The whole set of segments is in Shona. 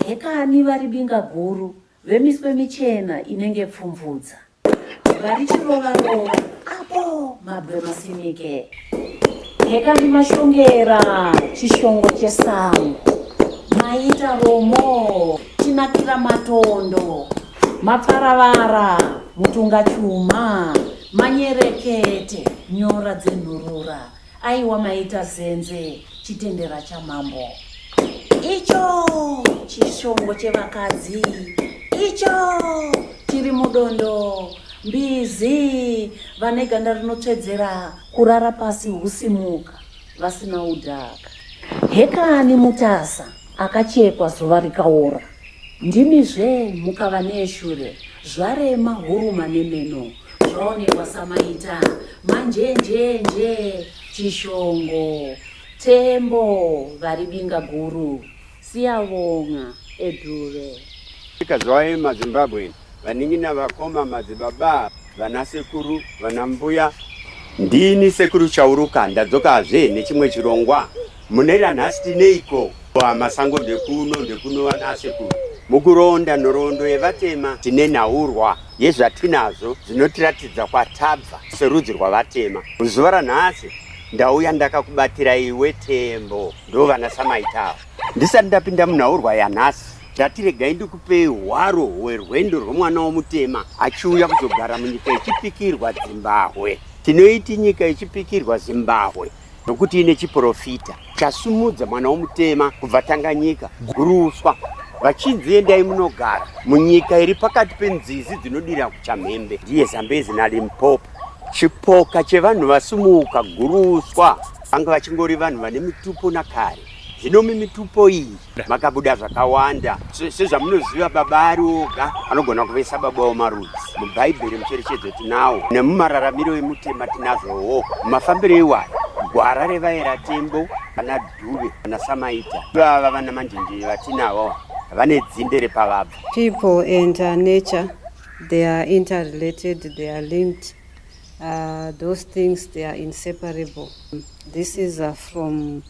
hekani vari binga guru vemiswe michena inenge pfumvudza vari chirova rova apo mabwe masinike hekani mashongera chishongo chesango maita romo chinakira matondo mapfaravara mutunga chuma manyerekete nyora dzenhurura Aiwa maita zenze chitendera chamambo icho chishongo chevakadzi icho chiri mudondo mbizi vane ganda rinotsvedzera kurara pasi husimuka vasina udhaka hekani mutasa Akachekwa zuva rikaora. Ndimi zve mukava neeshure. Zvarema huruma nemeno. Zvaonekwa samaita. Manjenjenje. Chishongo. Tembo. Vari binga guru. Siyavonga. Edhuve. Ika zvaema Zimbabwean. Vanin'ina, vakoma, madzibaba, vana sekuru, vana mbuya. Ndini sekuru Chauruka ndadzokazve nechimwe chirongwa. Mune ranhasi tineiko? Masango ndekuno ndekuno vana sekuru. Mukuronda nhoroondo yevatema tine nhaurwa yezvatinazvo zvinotiratidza kwatabva serudzi rwavatema. Zuva ranhasi ndauya ndakakubatira iwe Tembo ndovana Samaitavo. Ndisati ndapinda munhaurwa yanhasi Ndati regai ndikupei hwaro hwerwendo rwemwana womutema achiuya kuzogara munyika yechipikirwa Zimbabwe. Tinoiti nyika yechipikirwa Zimbabwe nokuti ine chiprofita chasumudza mwana womutema kubva Tanganyika guruswa vachinzi endai munogara munyika iri pakati penzizi dzinodira kuchamhembe ndiye Zambezi naLimpopo. Chipoka chevanhu vasumuka guruswa vanga vachingori vanhu vane mitupo nakare. Zvino mimitupo iyi makabuda zvakawanda sezvamunoziva, baba ari oga anogona kuvesa baba womarudzi. Mubhaibheri mucherechedzo tinawo, nemumararamiro emutema tinazvowo. Mafambiro iwayo gwara revaera tembo vana dhuve vana samaita vava vana manjenjeri vatinavo vane dzinde repavabva people and uh, nature they are interrelated they are linked uh, those things they are inseparable this is uh, from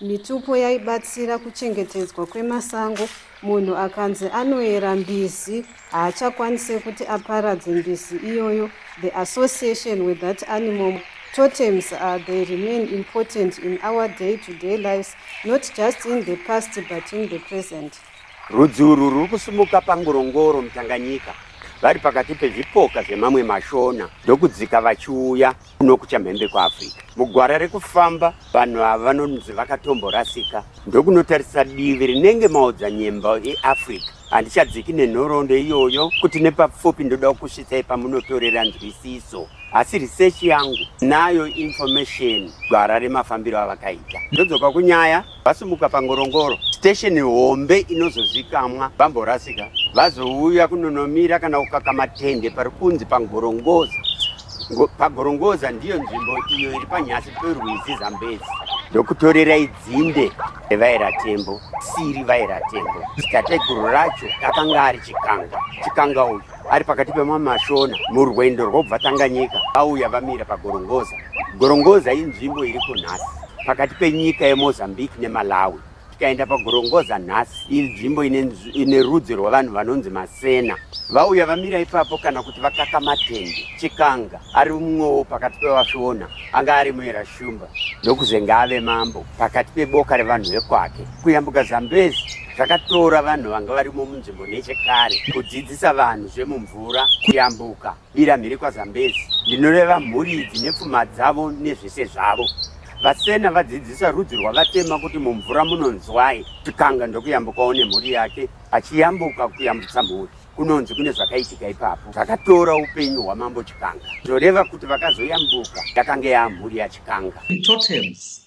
Mitupo yaibatsira kuchengetedzwa kwemasango. Munhu akanzi anoyera mbizi haachakwanise kuti aparadze mbizi iyoyo. The association with that animal totems are they remain important in our day to day lives not just in the past but in the present. Rudzi urwu ruri kusumuka pangorongoro mutanganyika vari pakati pezvipoka zvemamwe mashona ndokudzika vachiuya kuno kuchamhembe kuafrica mugwara rekufamba vanhu ava vanonzi vakatomborasika ndokunotarisa divi rinenge maodzanyemba eafrica handichadziki nenhoroondo iyoyo kuti nepapfupi ndoda kukusvitsai pamunotorera nzwisiso asi research yangu nayo information gwara remafambiro avakaita ndodzoka kunyaya Vasimuka pangorongoro station hombe inozozikamwa vamborasika vazouya kunonomira kana kukaka matende pari kunzi pangorongoza pagorongoza ndiyo nzvimbo iyo iri panyasi perwizi zambezi ndokutorera idzinde revairatembo siri vairatembo tateguru racho akanga ari chikanga chikanga uyu ari pakati pemamashona murwendo rwobva Tanganyika vauya vamira paGorongoza. Gorongoza inzvimbo iri kunhasi pakati penyika yeMozambique neMalawi. Tikaenda paGorongoza nhasi, iri nzvimbo ine rudzi rwevanhu vanonzi Masena. Vauya vamira ipapo kana kuti vakaka matende. Chikanga ari mumwewo pakati pevashona anga ari muera shumba ndokuzenge ave mambo pakati peboka revanhu vekwake. Kuyambuka Zambezi Zvakatora vanhu vanga varimo munzvimbo nechekare kudzidzisa vanhu zvemumvura, kuyambuka, bira mhiri kwaZambezi, ndinoreva mhuri idzi nepfuma dzavo nezvese zvavo. Vasena vadzidzisa rudzi rwavatema kuti mumvura munonzwai, tikanga ndokuyambukawo nemhuri yake, achiyambuka kuyambutsa mhuri kunonzi kune zvakaitika ipapo zvakatora upenyu hwamambo Chikanga, zvoreva kuti vakazoyambuka yakanga yaamhuri yaChikanga. Totems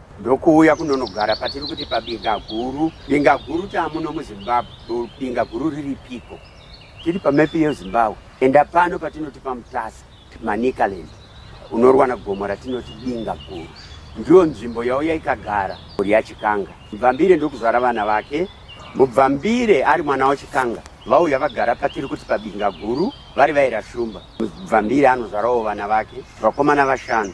ndokuuya kunonogara patiri kuti pabinga guru binga guru taamuno muzimbabwe binga guru riri piko tiri pamepi yezimbabwe enda pano patinoti pamutasa manicaland unorwana gomo ratinoti binga guru ndiyo nzvimbo yauya ikagara mhuri yachikanga mubvambire ndokuzvara vana vake mubvambire ari mwana wachikanga vauya vagara patiri kuti pabinga guru vari vaira shumba mubvambire anozvarawo vana vake vakomana vashanu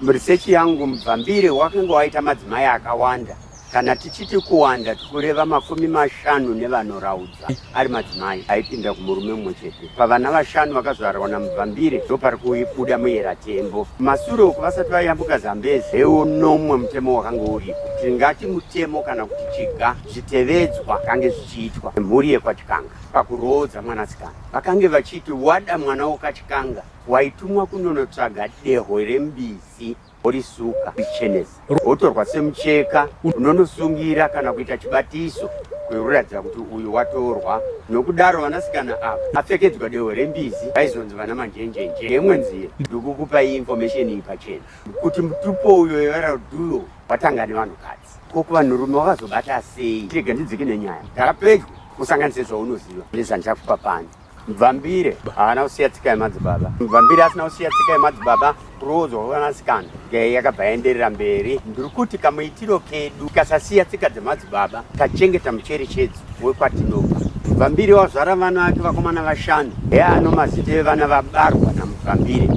Muresechi yangu mubvambire wakange waita madzimai akawanda kana tichiti kuwanda tikureva makumi mashanu nevanoraudza ari madzimai aipinda kumurume mumwe chete pavana vashanu vakazvarwa namubvambire ndo pari kubuda muyera tembo masure uku vasati vayambuka zambezi hewo nomwe mutemo wakange uripo tingati mutemo kana kuti chiga zvitevedzwa kange zvichiitwa mhuri yekwachikanga pakuroodza mwanasikana vakange vachiti wada mwana wokachikanga Waitumwa kunonotsvaga dehwe rembizi worisuka richenesa wotorwa semucheka unonosungira kana kuita chibatiso kwekuratidza kuti uyu watorwa nokudaro vanasikana ava apfekedzwa dehwe rembizi vaizonzi vana manjenjenje yemwe nzira ndikukupa iyi information iyi pachena kuti mutupo uyo yevaraduyo watanga nevanhukadzi ko kuvanhurume wakazobata sei rega ndidzike nenyaya ndakapedyo usanganise zvaunoziva ndezvandichakupa pano Mvambire haana kusiya tsika yemadzibaba. Mvambire asina kusiya tsika yemadzibaba kuroodzwa kwevanasikana gei yakabva yaenderera mberi. Ndiri kuti kamuitiro kedu kasasiya tsika dzemadzibaba kachengeta mucherechedzo wekwatinobva. Mvambire wazvara vana vake vakomana vashanu. Hee ano mazita evana vabarwa naMuvambire.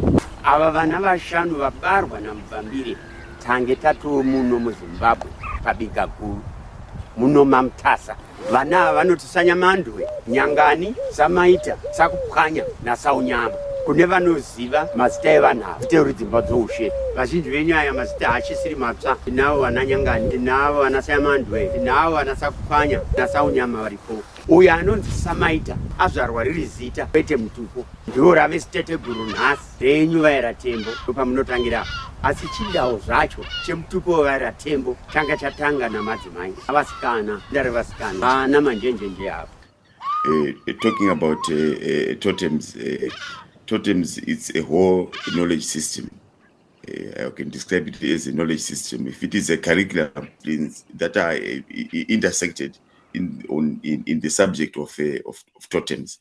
Ava vana vashanu vabarwa naMuvambire tange tatomuno muZimbabwe pabika guru muno maMutasa. Vana ava vanoti sanyamandwe, nyangani, samaita, sakupwanya nasaunyama. Kune vanoziva mazita evanhu ava teuri dzimba dzoushe. Vazhinji venyu aya mazita haachisiri matsva. Tinavo vana nyangani, tinavo vana sayamandwe, tinavo vana sakupwanya nasaunyama varipo. Uyo anonzi samaita azvarwa riri zita kwete mutupo, ndiwo rave ziteteguru nhasi. dzenyu vaera tembo ndopamunotangira asi chidawo zvacho chemutupo wevaera tembo changa chatanga namadzimai avasikana ndare vasikana vana manjenjenje apo Uh, talking about uh, uh, totems, uh, totems, it's a whole knowledge system. Uh, I can describe it as a knowledge system. If it is a curriculum that are uh, intersected in, on, in, in the subject of, uh, of, of totems,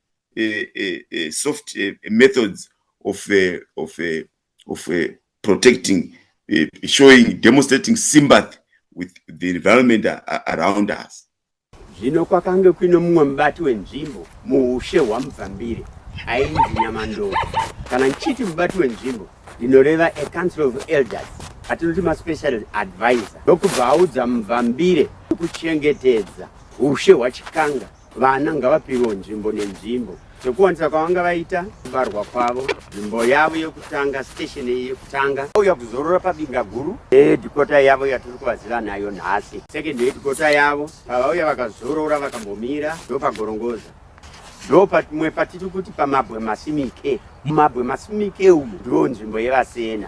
uh, uh, uh, soft uh, methods of, uh, of, uh, of uh, protecting uh, showing demonstrating sympathy with the environment uh, around us zvino kwakange kuine mumwe mubati wenzvimbo muushe hwamubvambire ainzi nyamandoro kana ndichiti mubati wenzvimbo ndinoreva a council of elders atinoti maspecial advisor ndokubva audza mubvambire kuchengetedza ushe hwachikanga Vana ngavapiwewo nzvimbo nenzvimbo zvekuwanisa kwavanga vaita kubarwa kwavo nzvimbo yavo yekutanga station iyi yekutanga auya kuzorora pabinga guru hedhikota yavo yatiri kuvaziva nayo nhasi second hedhikota yavo pavauya vakazorora vakambomira ndopagorongoza ndo pamwe patiri kuti pamabwe masimike mumabwe masimike umu ndiwo nzvimbo yevasena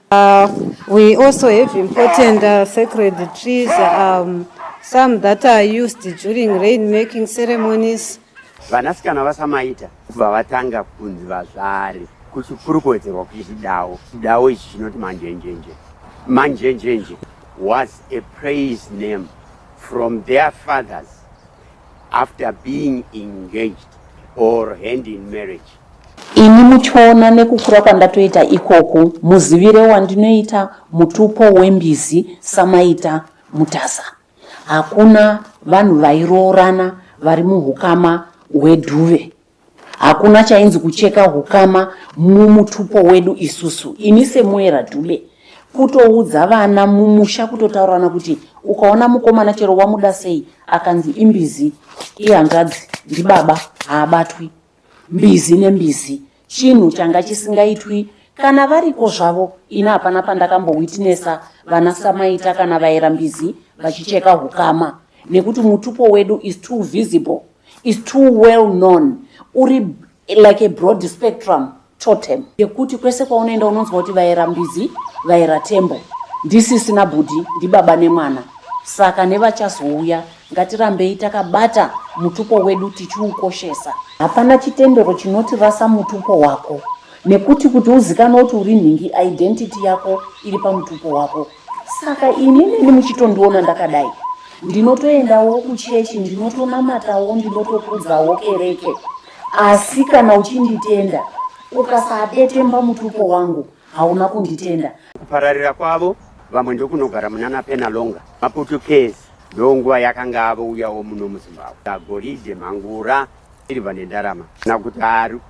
Uh, we also have important uh, sacred trees, um, some that are used during rain making ceremonies. Vanasikana vasamaita kubva vatanga kunzi vazvari kuchikurukodzerwa kuti chidawo chidawo ichi chinoti manjenjenje manjenjenje was a praise name from their fathers after being engaged or hand in marriage. Ini muchiona nekukura kwandatoita ikoku muzivire wandinoita mutupo wembizi samaita mutasa. Hakuna vanhu vairoorana vari muhukama hwedhuve. hakuna chainzi kucheka hukama mumutupo wedu isusu ini semuera dube kutoudza vana mumusha kutotaurirana kuti ukaona mukomana chero wamuda sei akanzi imbizi ihanzvadzi ndibaba haabatwi mbizi nembizi chinhu changa chisingaitwi kana variko zvavo ini hapana pandakambowitnesa vana samaita kana vaera mbizi vachicheka hukama nekuti mutupo wedu is too visible is too well known uri like a broad spectrum totem yekuti kwese kwaunoenda unonzwa kuti vaera mbizi vaera tembo ndisisina bhudhi ndibaba nemwana saka nevachazouya ngatirambei takabata mutupo wedu tichiukoshesa hapana chitendero chinoti rasa mutupo wako nekuti kuti uzikanwe kuti uri nhingi identity yako iri pamutupo wako saka ini neni muchitondiona ndakadai ndinotoendawo kuchechi ndinotonamatawo ndinotokudzawo kereke asi kana uchinditenda ukasadetemba mutupo wangu hauna kunditenda kupararira kwavo vamwe ndokunogara munana penalonga maputukezi ndonguva yakanga avouyawo muno muzimbabwe agoride mhangura iriva nendarama kana kuti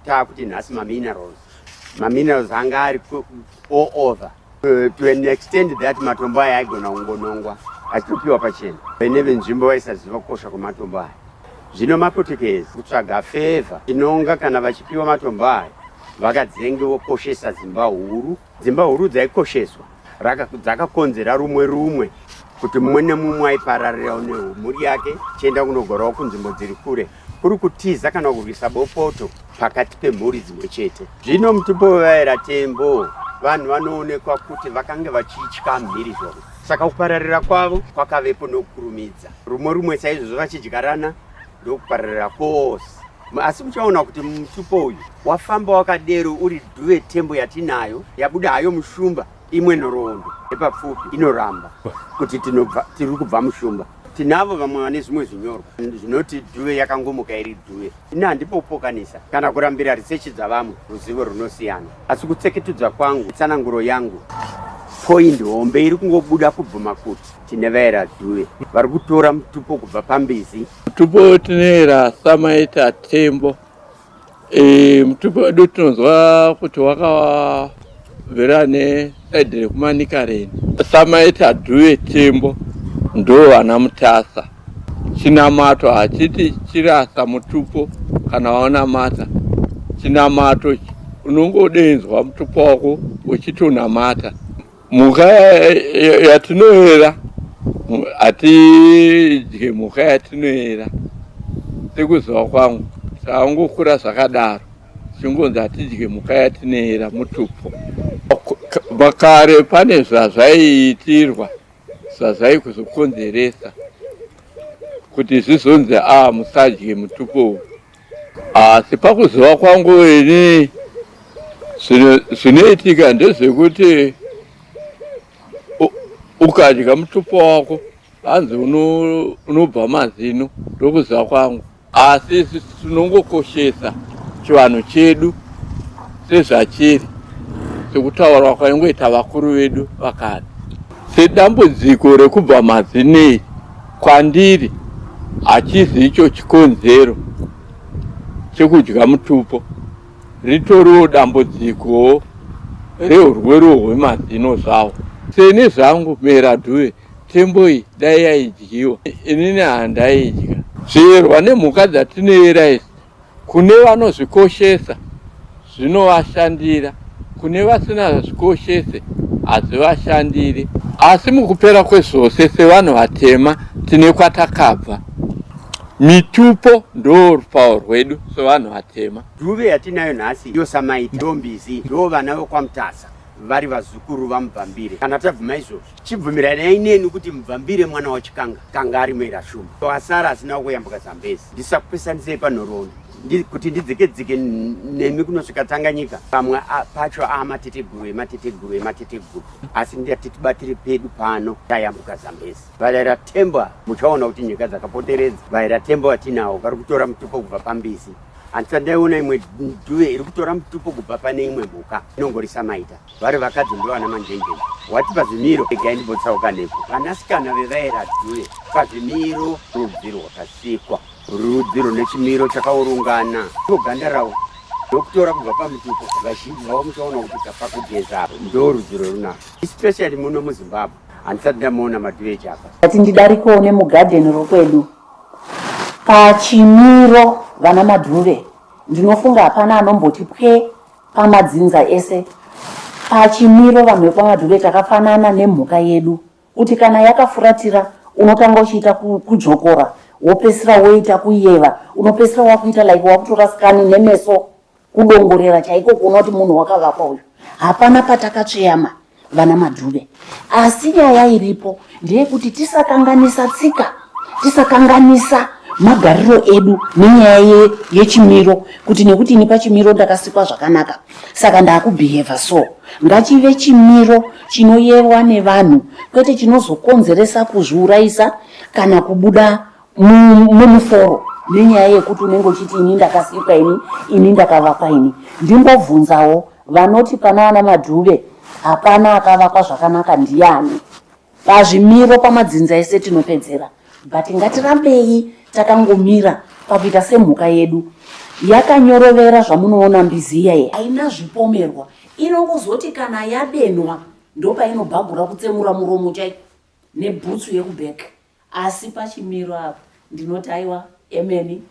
taakuti nhasi maminerals maminerals anga ari all over Uh, to an extend that matombo aya aigona kungonongwa achitopiwa pachena vene venzvimbo vaisaziva kukosha kwematombo aya zvino mapotekezi kutsvaga fevha inonga kana vachipiwa matombo aya vakadzenge vokoshesa dzimba huru dzimba huru dzaikosheswa dzakakonzera rumwe rumwe kuti mumwe nemumwe aipararirawo nemhuri yake chienda kunogorawo kunzvimbo dziri kure kuri kutiza kana kurwisa bopoto pakati pemhuri dzimwe chete. Zvino mutipovaera tembo vanhu vanoonekwa kuti vakange vachitya mhirizhonga saka kupararira kwavo kwakavepo nokukurumidza rumwe rumwe saizvozvo vachidyarana ndokupararira kwose asi muchaona kuti mutupo uyu wafamba wakadero uri dhuve tembo yatinayo yabuda hayo mushumba Imwe nhoroondo yepapfupi inoramba kuti tinobva tiri kubva mushumba tinavo vamwe vane zvimwe zvinyorwa zvinoti dhuve yakangomuka iri dhuve ini handipopokanisa kana kurambira risechi dzavamwe ruzivo runosiyana asi kutseketudza kwangu tsananguro yangu poindi hombe iri kungobuda kubvuma kuti tine vaera dhuve vari kutora mutupo kubva pambizi mutupo tinoera samaita tembo Eh, mutupo wedu tinonzwa kuti wakavera nesaidhi rekumanika reni samaita dhuve tembo ndo vana mutasa chinamato hachiti chirasa mutupo kana waonamata chinamato unongodeinzwa mutupo wako uchitonamata Mhuka yatinoera hatidye mhuka yatinoera sekuziva kwangu taangokura zvakadaro chingonzi hatidye mhuka yatinoera mutupo makare pane zvazvaiitirwa zvazvaikuzokonzeresa kuti zvizonzi a ah, musadye mutupo uyu Asi pakuziva kwangu ini zvinoitika ndezvekuti ukadya mutupo wako hanzi unobva mazino ndokuziva kwangu asi isu tinongokoshesa chivanhu chedu sezvachiri sekutaurwa kwaingoita vakuru vedu vakare sedambudziko rekubva mazinei Kwandiri hachizi icho chikonzero chekudya mutupo, ritoriwo dambudziko rehurwere hwemazino zvawo. Seni zvangu mera dhuve tembo iyi dai yaidyiwa inini handaidya. Zviverwa nemhuka dzatinoyera izvi Kune vanozvikoshesa zvinovashandira, kune vasina zvikoshese hazvivashandiri. Asi mukupera kwezvose, sevanhu vatema, tine kwatakabva. Mitupo ndoo rupawo rwedu sevanhu vatema. Dove yatinayo nhasi iyo samaita ndombizi ndoo vana vekwaMutasa vari vazukuru vaMubvambire kana tabvuma izvozvi. Chibvumiranai neni kuti Mvambire mwana waChikanga kanga ari mera shuma wasara asina kuyambuka Zambezi. Ndisakupesanisei panhoroondo kuti ndidzikedzike nemi kunosvika Tanganyika. Pamwe pacho a mateteguru emateteguru emateteguru asi ndati tibatire pedu pano tayambuka Zambezi. Varaira Themba muchaona kuti nyika dzakapoteredza. Varaira Themba vatinawo vari kutora mutupo kubva pambizi. Handisa ndaiona imwe dhuve iri kutora mutupo kubva pane imwe mhuka inongorisa maita. vari vakadzi ndovana manjenjeni wati pazvimiro egai ndimbotsauka nepo vanasikana vevaera due pazvimiro rudzi rwakasikwa rudzi rune chimiro chakaurungana ndoganda ravo ndokutora kubva pamutupo vazhinji vavo muchaona kuti kapakugeza apo ndo rudzi rwerunako especially muno muzimbabwe handisati ndamuona madue chapa ati ndidarikewo nemugadheni rokwedu pachimiro vana madhuve ndinofunga hapana anomboti pwee Pamadzinza ese pachimiro vanhu vekwaMadure takafanana nemhuka yedu kuti kana yakafuratira unotanga uchiita kujokora wopesira woita kuyeva unopesira wakuita like wakutora skani nemeso kudongorera chaiko kuona kuti munhu wakavakwa uyu hapana patakatsveyama vana madhuve asi nyaya iripo ndeyekuti tisakanganisa tsika tisakanganisa magariro edu nenyaya ye, yechimiro kuti nekuti ini pachimiro ndakasikwa zvakanaka saka ndakubeheva so ngachive chimiro chinoyerwa nevanhu kwete chinozokonzeresa kuzviurayisa kana kubuda mumuforo nenyaya yekuti unenge uchiti ini ndakasikwa ini ini ndakavakwa ini ndimbobvunzawo vanoti pana vana madhuve hapana akavakwa zvakanaka ndiyani pazvimiro pamadzinza ese tinopedzera but ngatirambei takangomira pakuita semhuka yedu yakanyorovera zvamunoona mbizi iyaye haina zvipomerwa inongozoti kana yadenwa ndopainobhagura kutsemura muromo chai nebhutsu yekubheka Asi pachimiro apa ndinoti aiwa emeni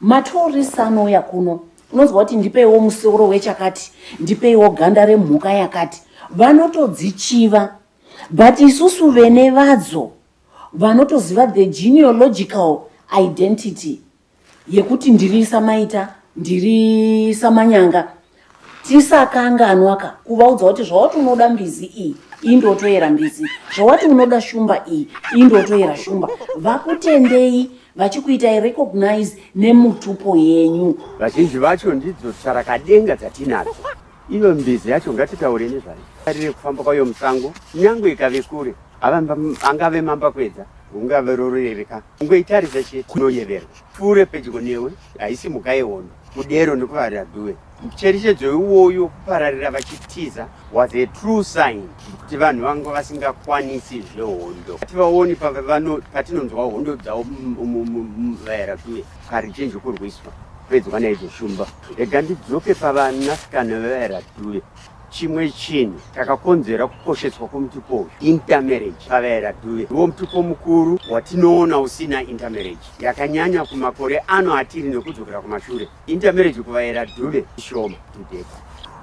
matourist anouya kuno unonzwa kuti ndipeiwo musoro wechakati ndipeiwo ganda remhuka yakati vanotodzichiva but isusu vene vadzo vanotoziva the genealogical identity yekuti ndiri samaita ndiri samanyanga tisakanganwaka kuvaudza kuti zvawati unoda mbizi iyi indotoyera mbizi zvawati unoda shumba iyi indotoyera shumba vakutendei vachikuitai recognize nemutupo yenyu vazhinji vacho ndidzo tsvarakadenga dzatinadzo iyo mbizi yacho ngatitaure nezvayo arire kufamba kwayo musango nyangwe ikave kure angave mambakwedza ungave rorereka ungoitaridza chete kunoyeverwa pfuure pedyo newe haisi mhuka yehondo kudero nekuvarira dhuve mucherechedzo iwoyo kupararira vachitiza was a true sign kuti vanhu vanga vasingakwanisi zvehondo hativaoni patinonzwa hondo dzavo vaera dhuve kari chinji kurwiswa pedzwa naizvo shumba ega ndidzoke pavanasikana vevaera dhuve Chimwe chinhu chakakonzera kukosheswa kwemutupo uyu intermarriage pavaera dhuve ndiwo mutupo mukuru watinoona usina intermarriage yakanyanya kumakore ano atiri nekudzokera kumashure intermarriage kuvaera dhuve ishoma tudeka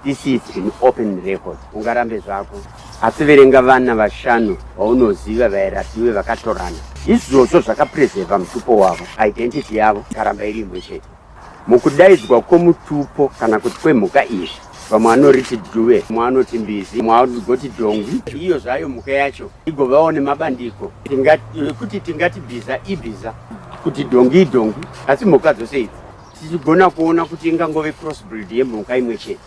this is an open record ungarambe zvako asi verenga vana vashanu vaunoziva vaera dhuve vakatorana izvozvo zvakapreseva mutupo wavo identity yavo karamba iri imwe chete Mukudaidzwa kwomutupo kana kuti kwemhuka izvi vamwe vanoriti dhuve mwe anoti mbizi mwe agoti dhongwi iyo zvayo mhuka yacho igovawo nemabandiko ekuti tingati bhiza ibhiza kuti dhongi idhongi asi mhuka dzose idzi tichigona kuona kuti ingangove crossbreed yemhuka imwe chete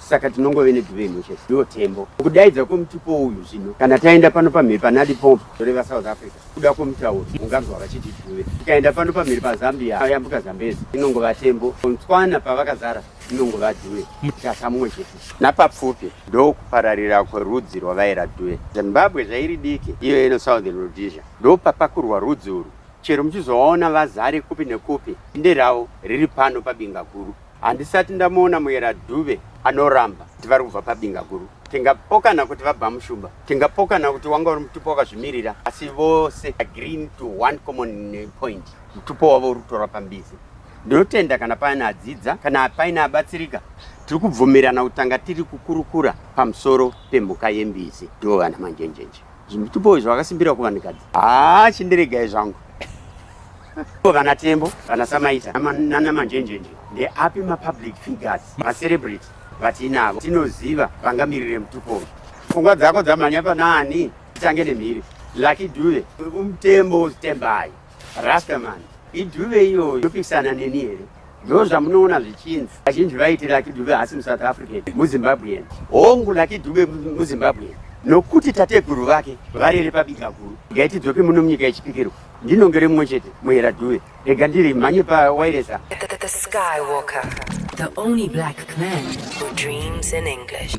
saka tinongove neduve imwe chete ndiwo tembo kudaidza kwemutupo uyu zvino kana taenda pano pamhiri panadi pompo zvoreva south africa kuda kwemutauro unganzwa vachiti duve tikaenda pano pamhiri pazambia ayambuka zambezi inongova tembo kontswana pavakazara inongova duve mutasa mumwe chete napapfupi ndokupararira kwerudzi rwavaira duve zimbabwe zvairi diki iyo ino southern rhodesia ndopapakurwa rudzi urwu chero muchizovaona vazare kupi nekupi inde ravo riri pano pabinga guru Handisati ndamuona Muyera Dube anoramba kuti vari kubva pabinga guru. Tingapokana kuti vabva mushumba, tingapokana kuti wanga uri mutupo wakazvimirira, asi vose agree to one common point, mutupo wavo uri kutora pambizi. Ndinotenda kana paine adzidza, kana paine abatsirika, tiri kubvumirana kutanga tiri kukurukura pamusoro pemhuka yembizi, ndivo vana manjenjenje. Zvimutupo izvi vakasimbira kuvanhukadzi, haa chindiregai zvangu Vana Tembo, vana Samaita, nana Manjenjenje, ndeapi mapublic figures, macelebrity vatinavo tinoziva vangamirire mutupo uyu? Pfungwa dzako dzamhanya panaani? Titange nemhiri. Lucky Dube, umtembo Tembai, Rastaman, iDube iyoyo yopikisana neni here? Ndo zvamunoona zvichinzi vazhinji vaiti Lucky Dube haasi muSouth African, muZimbabwean. Hongu, Lucky Dube muZimbabwean nokuti tateguru vake varere pabigakuru. Ngaitidzoke muno munyika yechipikirwa. Ndinonge rimwe chete muhera dhuve rega ndiri mhanye pawairesa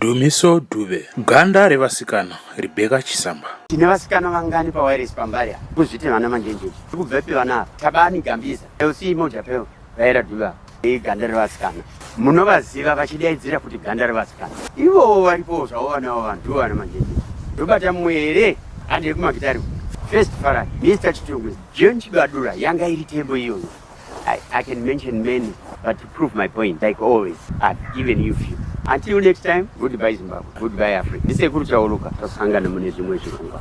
Dumiso Dube ganda revasikana Rebecca Chisamba tine vasikana vangani pawairesi pambari kuzviti vana manjenjenje tikubvepi vana tabani gambiza lc moja peo vaera duva iganda revasikana munovaziva vachidaidzira kuti ganda revasikana ivowo varipowo zvavo vanawo vanhu ndivo vana manjeni ndobata mwere handi yekumakitari first fara mr chitungu john chibadura yanga iri tembo iyoyo I, I can mention many, but to prove my point, like always, I've given you few. Until next time, goodbye Zimbabwe, goodbye Africa. Ndisekuru Chauluka, tasangana mune zvimwe zvirongwa.